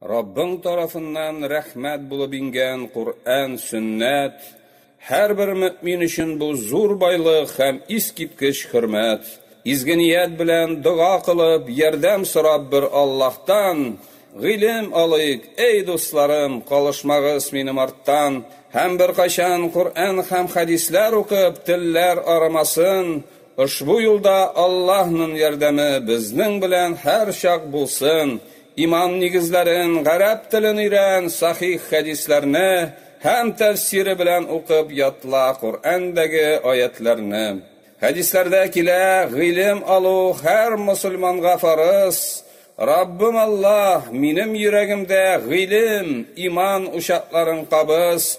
Раббың тарафыннан рәхмәт булып иңгән Коръән, Сөннәт, һәрбер мөэмин өчен бу зур байлык һәм искиткеч хөрмәт. Изге ният белән дога кылып, ярдәм сорап бер Аллаһтан гыйлем алыйк, әй дусларым, калышмагыз минем арттан һәм беркайчан Коръән һәм хәдисләр укып, телләр арымасын, Ошбу юлда Аллаһнын ярдәме безнең белән һәрчак булсын, иман нигезләрен, гарәп телен өйрән, сахих хәдисләрне һәм тәфсире белән укып ятла Коръәндәге аятьләрне. Хәдисләрдә килә, гыйлем алу һәр мосылманга фарыз. Раббым Аллаһ, минем йөрәгемдә гыйлем, иман учакларын кабыз,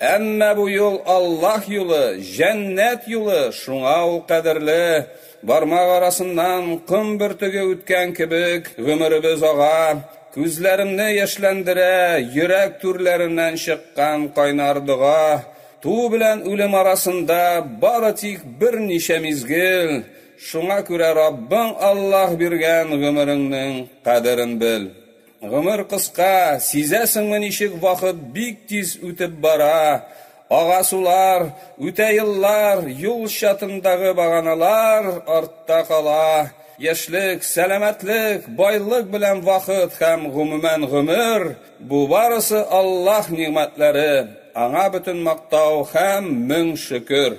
Әмма бу юл Аллаһ юлы, җәннәт юлы, шуңа ул кадерле, бармак арасыннан ком бөртеге үткән кебек, гомеребез ага, күзләремне яшьләндерә, йөрәк түрләреннән чыккан кайнар дога, туу белән үлем арасында бары тик берничә мизгел, шуңа күрә Раббың Аллаһ биргән гомереңнең кадерен бел. Гомер кыска, сизәсеңме ничек вакыт бик тиз үтеп бара, ага сулар, үтә еллар, юл чатындагы баганалар артта кала, яшьлек, сәламәтлек, байлык белән вакыт һәм гомумән гомер, бу барысы Аллаһ нигъмәтләре, аңа бөтен мактау һәм мең шөкер.